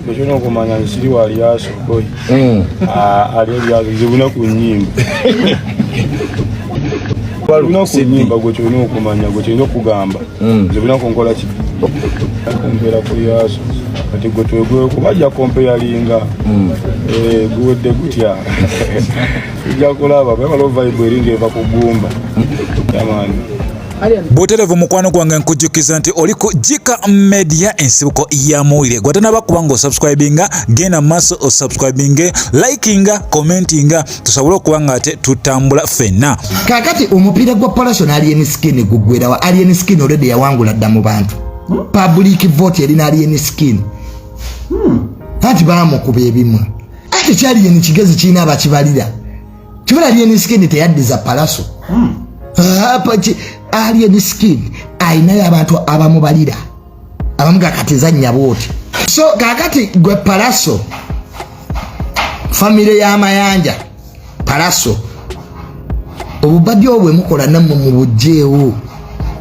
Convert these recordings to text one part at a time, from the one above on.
Bwekino okumanya nsiri wali asokoi hmm. ah, ali ebyazo zibuna ku nyimba balina ku nyimba gwe kyolina okumanya gwe kyolina okugamba hmm. zibuna ku nkola ki okumbeera ku yaso kati gwe twegwe kubajja kompe yalinga hmm. eh, guwedde gutya tujja kulaba bwebala ovaibwe eringa eva kugumba yamani buterevu mukwano gwange nkujjukiza nti oli ku jika media ensibuko ya muwulire gwatanaba kuba nga osubscribinga genda maaso osubscribinge likinga commentinga tusobole okuba nga ate tutambula fenna kakati omupiira gwa palation alien skin gugwerawa alien skin olede yawangula dda mu bantu hmm? public vote erina alien skin hmm. anti bamukuba ebimu ate kyalien kigezi kirina abakibalira kibala alien skin teyaddiza palaso hmm. apaki alien skin alinayo abantu abamubalira abamu kakati zanyabo oti so kakati gwe palaso famire y'amayanja palaso obubadi obwe mukola namwe mubujjeewo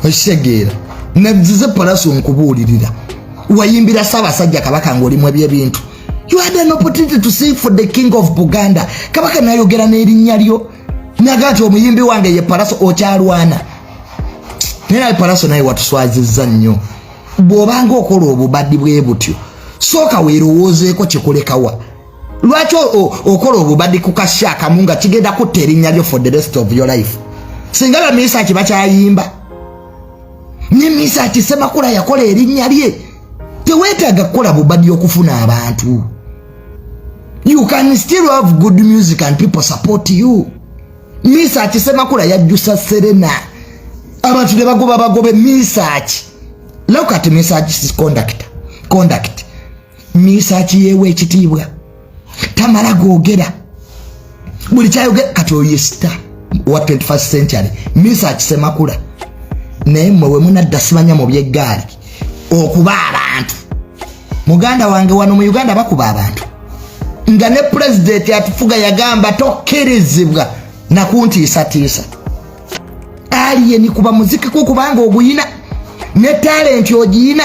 okitegeera nazize palaso nkubuulirira wayimbira ssaabasajja kabaka ngaolimu ebyebintu you had an opportunity to sing for the king of buganda kabaka nayogera n'erinnya lyo naga nti omuyimbi wange ye palaso okyalwana naye naye palaso naye watuswaziza nnyo bw'obanga okola obubadi bwe butyo sooka weerowoozeeko kikulekawa lwaki okola obubadi ku kasi akamu nga kigenda kutta erinnya lyo for the rest of your life singa bamiisa kiba kyayimba ne misa ati semakula yakola erinnya lye teweetaaga kukola bubadi okufuna abantu you can still have good music and people support you misa ati semakula yajjusa serena abantu ne bagoba bagobe misa ati look at misa ati conduct conduct minisita akiyeewa ekitiibwa tamala googera buli kyayogera kati oyo sita owa 21 century minisita akisemakula naye mmwe we munadda simanya mu byeggaali okuba abantu muganda wange wano mu uganda bakuba abantu nga ne pulezidenti atufuga yagamba tokkirizibwa nakuntiisatiisa aliyeni kuba muzikiko kubanga oguyina ne talenti ogiyina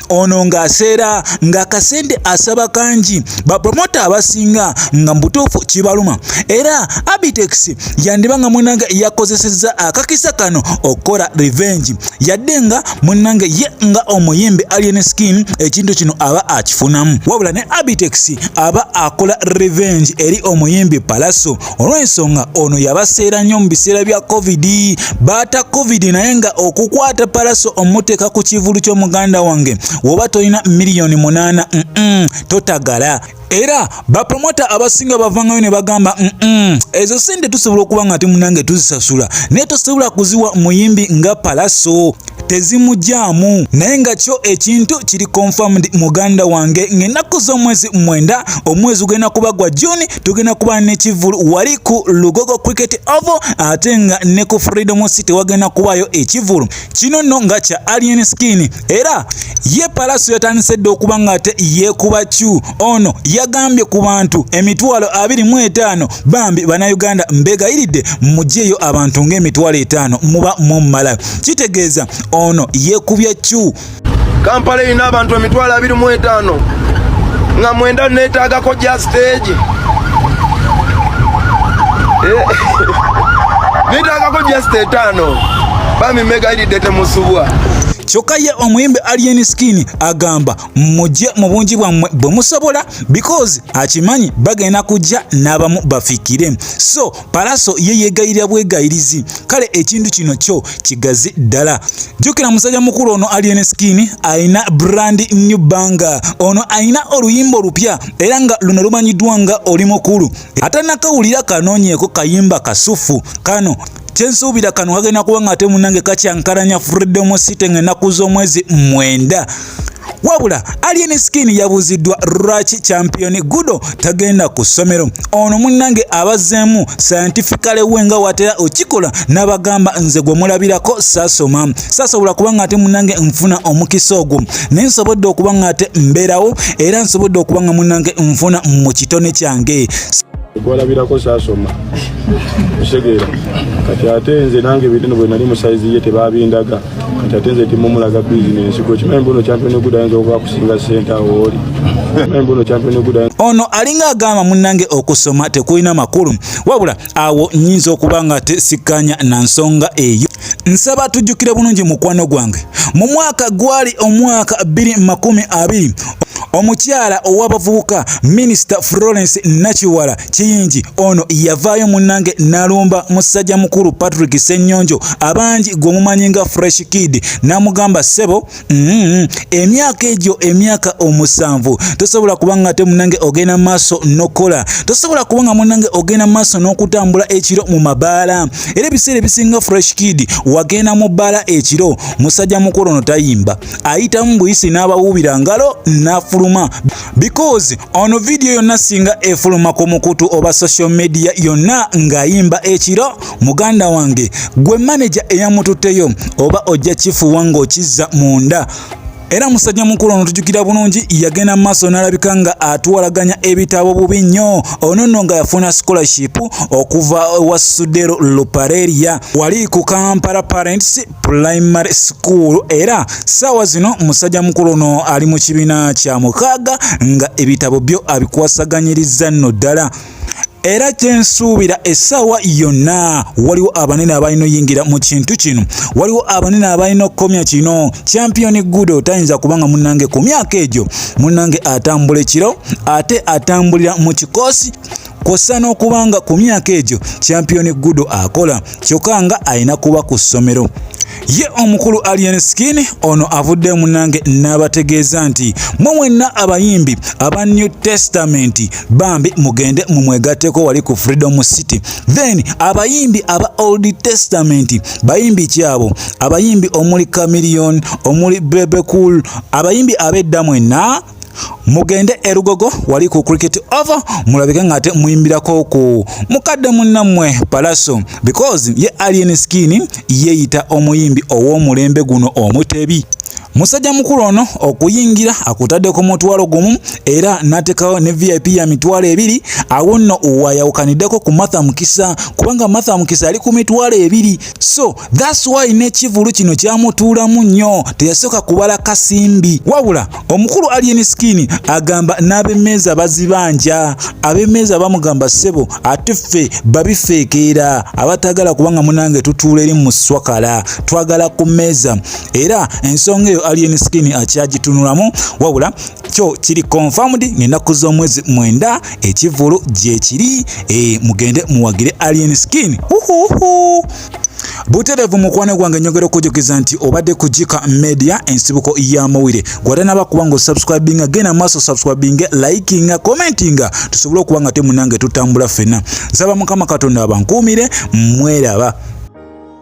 ono ng'aseera ng'akasente asaba kangi bapromota abasinga nga mubutuufu kibaluma era abitex yandiba nga munange yakozesezza akakisa kano okukola revenge yadde nga munange ye nga omuyimbi alien skin ekintu kino aba akifunamu wabula ne abitex aba akola revenge eri omuyimbi palaso olw'ensonga ono yabaseera nnyo mu biseera bya covid baata covid naye nga okukwata palaso omuteeka ku kivulu ky'omuganda wange woba tolina miliyoni munaana totagala era bapromota abasinga bavangayo ne bagamba ezo sente tusobola okuba nga timunange tuzisasula naye tosobola kuziwa muyimbi nga palaso tezimugyamu naye nga kyo ekintu kiri confirmed muganda wange ng'ennaku z'omwezi mwenda omwezi gugenda kuba gwa juni tugenda kuba n'ekivulu wali ku lugogo cricket ovo ate nga ne ku freedom city wagenda kubayo ekivulu kino nno nga kya alien skin era ye palaso yatandise dda okuba ng'ate yeekuba kyu ono yagambye ku bantu emitwalo abiri mu etaano bambi bannayuganda mbegayiridde mugyeyo abantu ng'emitwalo etaano muba mumumalayo kitegeeza ono yeekubye kyu kampala erina abantu emitwalo abiri mu etaano nga mwenda neetaagako gya siteegi eh, neetaagako gya site etaano bami mega iridde temusubwa kyokka ye omuyimbi alien skin agamba mujje mu bungi bwammwe bwe musobola because akimanyi bagenda kujja n'abamu bafikire so Palaso ye yeegayirira bwegayirizi kale ekintu kino kyo kigazi ddala. Jjukira musajja mukulu ono Alien Skin alina brand new banga. Ono alina oluyimba olupya era nga luno lumanyiddwa nga oli mukulu. Atanakawulira kanoonyeeko kayimba kasufu kano kyensuubira kano kagenda kuba nga ate munange kakyankalanya freedom city nga ennaku z'omwezi mwenda wabula alien skin yabuuziddwa lwaki champion gudo tagenda ku ssomero ono munnange abazeemu sayantifikale we nga watera okikola n'abagamba nze gwe mulabirako sasoma sasobola kuba nga ate munnange nfuna omukisa ogwo naye nsobodde okuba nga ate mbeerawo era nsobodde okuba nga munnange nfuna mu kitone kyange gwalabirako saasoma osegeera kati ate nze nange ebintu no bwe nali mu sayizi ye tebabindaga kati ate nze timumulaga bizinensi kwekimanyi mbuno kyampionegud ayinza okuba kusinga sente awo oli ono alinga agamba munange okusoma tekulina makulu wabula awo nyinza okuba nga tesikanya na nsonga eyo nsaba tujjukire bulungi mukwano gwange mu mwaka gwali omwaka 220 omukyala ow'abavubuka minisita florence nakiwala kiyingi ono yavaayo munnange nalumba musajja mukulu patrick senyonjo abangi gwemumanyi nga fresh kid namugamba sebo mm-hmm, emyaka egyo emyaka omusanvu tosobola kuba nga te munnange ogenda maaso nokukola tosobola kuba nga munnange ogenda maaso n'okutambula ekiro mu mabaala era ebiseera ebisinga fresh kid wagenda mu bbaala ekiro musajja mukulu ono tayimba ayitamu buyisi n'abawuubira ngalo n'afuluma because ono vidiyo yonna singa efuluma ku mukutu oba social media yonna ng'ayimba ekiro muganda wange gwe maneja eyamututteyo oba ojja kifuwa ng'okizza munda era musajja mukulu ono tujukira bulungi yagenda maaso n'alabika nga atuwalaganya ebitabo bubi nnyo ono nno nga yafuna scholarship okuva wa sudero lupareria wali ku kampala parents Primary School era saawa zino musajja mukulu ono ali mu kibiina kya mukaaga nga ebitabo byo abikwasaganyiriza nno ddala era kyensuubira essaawa yonna waliwo abanene abalina oyingira mu kintu kino waliwo abanene abalina okukomya kino champion gudo tayinza kubanga munange ku myaka egyo munange atambula ekiro ate atambulira mu kikoosi kwossa n'okuba nga ku myaka egyo kyampiyoni gudo akola kyokka nga alina kuba ku ssomero ye omukulu alien skin ono avudde munange n'abategeeza nti mwe mwenna abayimbi aba new testament bambi mugende mumwegatteko wali ku freedom city then abayimbi aba old testament bayimbi kyabo abayimbi omuli camilion omuli bebecool abayimbi abedda mwenna mugende erugogo wali ku cricket over mulabike ngate muyimbirako ku mukadde munnamwe palaso because ye alien skin yeyita omuyimbi ow'omulembe guno omutebi musajja mukulu ono okuyingira akutadde ku mutwalo gumu era n'ateekawo ne vip ya mitwalo ebiri awo nno wayawukaniddeko ku martha mukisa kubanga martha mukisa ali ku mitwalo ebiri so That's why n'ekivulu kino kyamutuulamu nnyo teyasooka kubala kasimbi wabula omukulu alien skin agamba n'abemmeeza bazibanja abemmeeza bamugamba ssebo ate ffe babifeekeera abataagala kubanga munange tutuula eri mu swakala twagala ku mmeeza era ensonga eyo alien skin akyagitunulamu wabula kyo kiri confirmed ng'ennaku z'omwezi mwenda ekivulu gyekiri e, mugende muwagire alien skin uhuhu buterevu mukwano gwange nyogera okujukiza nti obadde ku jika media ensibuko ya mawire gwatanaba kuba nga osubscribinga genda maaso subscribinga likinga commentinga tusobole okuba nga temunange tutambula ffena nsaba mukama katonda abankuumire mweraba